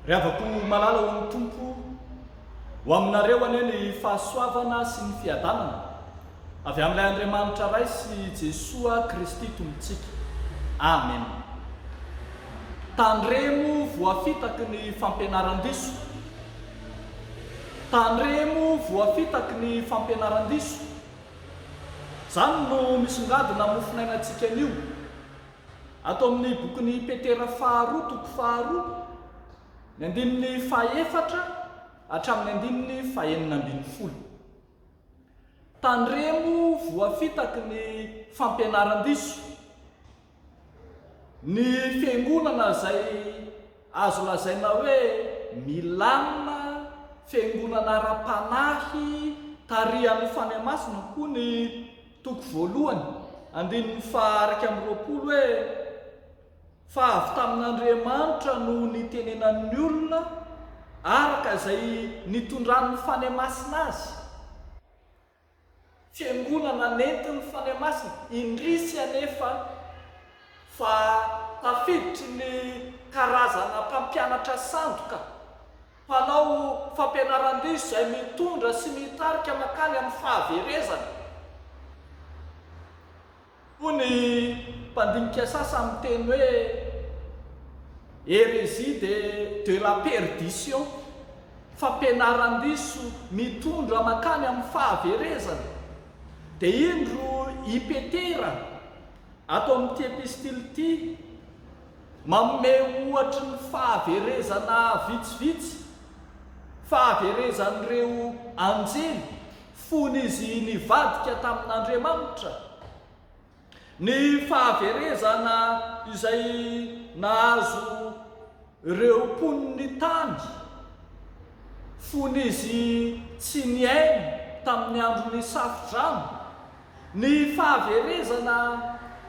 Ry havako malala ho an'ny Tompo, ho aminareo anie ny fahasoavana sy ny fiadanana. Avy amin'ilay Andriamanitra Ray sy Jesoa Kristy Tompontsika. Amen. Tandremo voafitaky ny fampianaran-diso. Tandremo voafitaky ny fampianaran-diso. Izany no misongadina mofonainantsika anio. Ato amin'ny bokin'i Petera faharoa toko faharoa, ny andininy fahefatra hatramin'ny andininy fahenina ambin'ny folo. Tandremo voafitaky ny fampianaran-diso ny fiangonana izay azo lazaina hoe milamina, fiangonana ara-panahy tarihan'ny Fanahy Masina koa ny toko voalohany, andininy faha iraika amby roapolo hoe. Fa avy tamin'Andriamanitra no nitenenan'ny olona araka izay nitondran'ny Fanahy Masina azy. Fiangonana nentin'ny Fanahy Masina. Indrisy anefa fa tafiditry ny karazana mpampianatra sandoka, mpanao fampianaran-diso izay mitondra sy mitarika mankany amin'ny fahaverezana. Hoy ny mpandinika sasany miteny hoe Hérésie de de la perdition, fampianaran-diso mitondra mankany amin'ny fahaverezana. Dia indro i Petera ato amin'ity epistily ity manome ohatry ny fahaverezana vitsivitsy, fahaverezan'ireo anjely. Fony izy nivadika tamin'Andriamanitra, ny fahaverezana izay nahazo ireo mponin'ny tany, fony izy tsy niaina tamin'ny andron'ny Safodrano, ny fahaverezana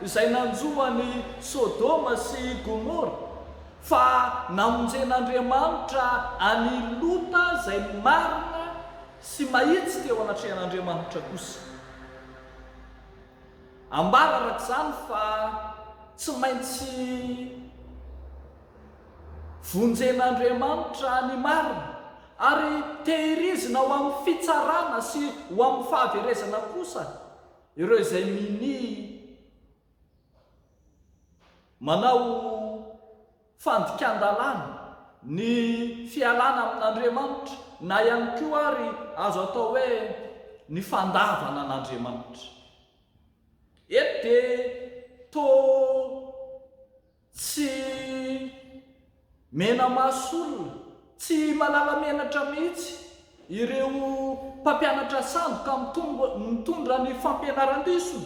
izay nanjo an'i Sodoma sy Gomora, fa namonjen'Andriamanitra an'i Lota izay marina sy mahitsy teo anatrehan'Andriamanitra kosa. Ambara araka izany fa tsy maintsy vonjen'Andriamanitra ny marina ary tehirizina ho amin'ny fitsarana sy ho amin'ny fahaverezana kosa ireo izay minia manao fandikan-dalàna, ny fialana amin'Andriamanitra, na ihany koa ary azo atao hoe ny fandavana an'Andriamanitra. Eto dia toa tsy mena-maso olona, tsy malala menatra mihitsy ireo mpampianatra sandoka mitondra ny fampianaran-diso,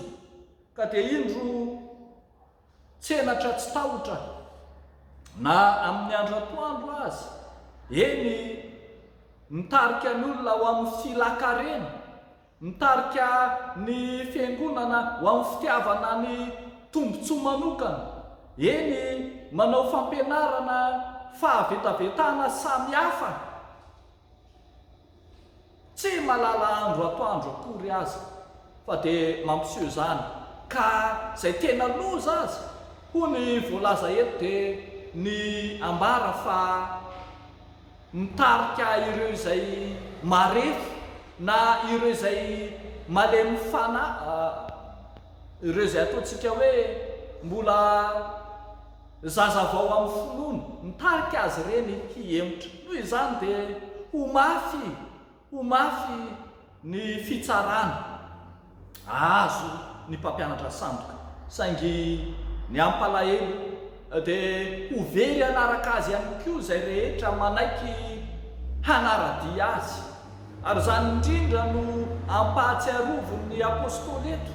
ka dia indro Tsenatra tsy tahotra na amin'ny andro atoandro aza, eny, mitarika ny olona ho amin'ny filakarena, mitarika ny fiangonana ho amin'ny fitiavana ny tombontsoa manokana, eny, manao fampianarana fahavetavetana samihafa. Tsy malala andro atoandro akory aza fa dia mampiseho izany ka izay tena loza aza hoy ny voalaza eto dia ny ambara fa mitarika ireo izay marefo na ireo izay malemy fanahy ireo izay ataontsika hoe mbola Zaza vao amin'ny finoana, mitarika azy ireny hihemotra. Noho izany dia ho mafy, ho mafy ny fitsarana azo ny mpampianatra sandoka. Saingy ny hampalahelo dia ho very hanaraka azy ihany koa izay rehetra manaiky hanara-dia azy. Ary izany indrindra no ampahatsiarovin'ny apostoly eto.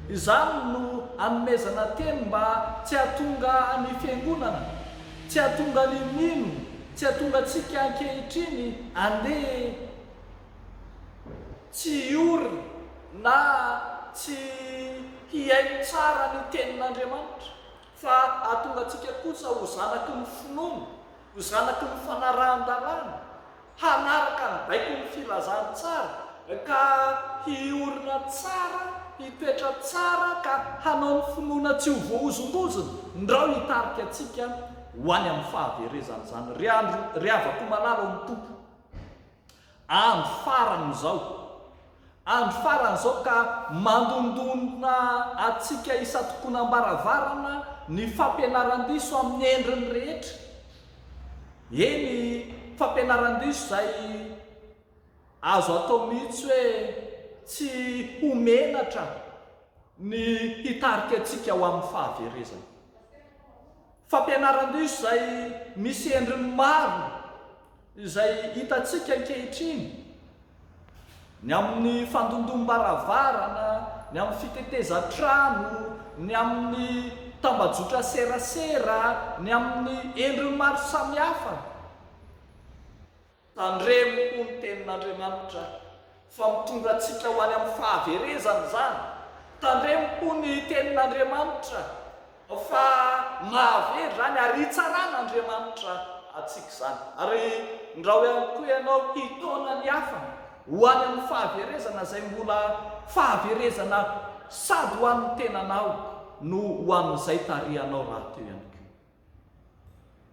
Izany no anomezana teny mba tsy hahatonga ny Fiangonana, tsy hahatonga ny mino, tsy hahatonga antsika ankehitriny handeha tsy hiory na tsy hihaino tsara ny Tenin'Andriamanitra, fa hahatonga antsika kosa ho zanaky ny finoana, ho zanaky ny fanarahan-dalàna. hanaraka ny baikon'ny filazantsara, ka hiorina tsara, hipetra tsara, ka hanao ny finoana tsy ho voahozongozona, ndrao hitarika antsika ho any amin'ny fahaverezana izany. Ry andry, ry havako malala ao amin'ny Tompo, andro farany izao. Andro farany izao ka mandondona antsika isan-tokonam-baravarana ny fampianaran-diso amin'ny endriny rehetra, eny fampianaran-diso izay azo atao mihitsy hoe tsy ho menatra ny hitarika antsika ho amin'ny fahaverezana. Fampianaran-diso izay misy endriny maro izay hitantsika ankehitriny, ny amin'ny fandondom-baravarana, ny amin'ny fitetezan-trano, ny amin'ny tambajotran-serasera, ny amin'ny endriny maro samihafa. Tandremo hoy ny Tenin'Andriamanitra fa mitondra antsika ho any amin'ny fahaverezana izany. Tandremo hoy ny Tenin'Andriamanitra fa mahavery izany ary hitsaran'Andriamanitra antsika izany. Ary ndrao ihany koa ianao hitaona ny hafa ho any amin'ny fahaverezana izay mbola fahaverezana sady ho an'ny tenanao no ho an'izay tarihanao rahateo ihany koa.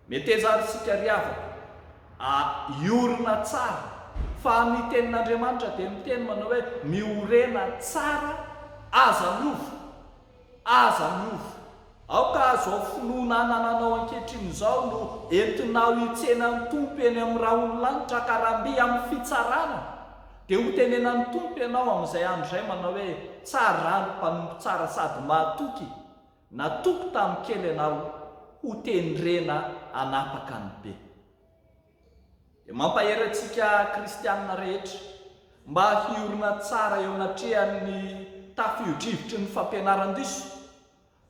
Meteza ary isika ry havako a! Hiorina tsara, fa ny tenin'Andriamanitra dia miteny manao hoe, Miorena tsara, aza miova, aza miova. Aoka izao finoana anananao ankehitriny izao no entinao hitsena ny Tompo eny amin'ny rahon'ny lanitra ka raha mby amin'ny fitsarana dia hotenenan'ny Tompo ianao amin'izay andro izay manao hoe, Tsara, mpanompo tsara sady mahatoky. Natoky tamin'ny kely ianao ho tendrena hanapaka ny be. Dia mampahery antsika kristiana rehetra mba hiorina tsara eo anatrehan'ny tafiodrivotry ny fampianaran-diso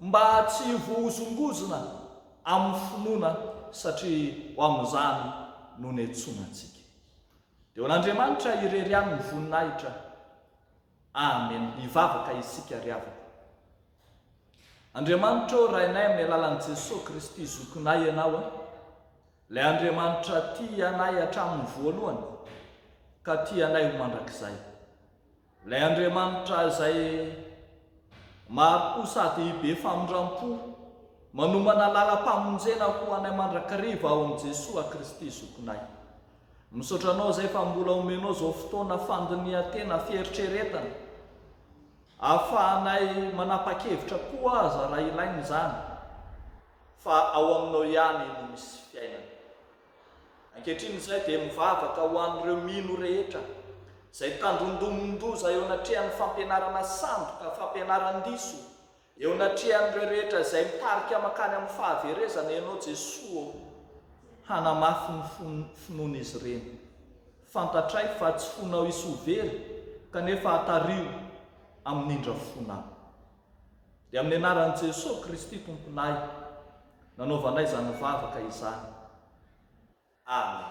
mba tsy ho voahozongozona amin'ny finoana satria ho amin'izany no niantsoana antsika. Dia ho an'Andriamanitra irery ihany ny voninahitra Amen hivavaka isika ry havako. Andriamanitra ô Rainay amin'ny alalan'i Jesoa Kristy Zokinay Ianao a, Ilay Andriamanitra tia anay hatramin'ny voalohany ka tia anay ho mandrakizay. Ilay Andriamanitra izay mari-po sady be famindram-po manomana lalam-pamonjena ho anay mandrakariva ao amin'i Jesoa Kristy Zokinay. Misaotra anao izay fa mbola omenao izao fotoana fandinihan-tena, fieritreretana, ahafahanay manapa-kevitra koa aza raha ilaina izany, fa ao aminao ihany no misy fiainana. Ankehitriny izay dia mivavaka ho an'ireo mino rehetra izay tandindomin-doza eo anatrehan'ny fampianarana sandoka, fampianaran-diso, Eo anatrehan'ireo rehetra izay mitarika mankany amin'ny fahaverezana Ianao Jesoa ô! Hanamafy ny finoan'izy ireny. Fantatray fa tsy fonao hisoa very kanefa hatariho amin'ny indrafona. Dia amin'ny anaran'i Jesoa Kristy Tomponay nanaovanay izany vavaka izany. Amen.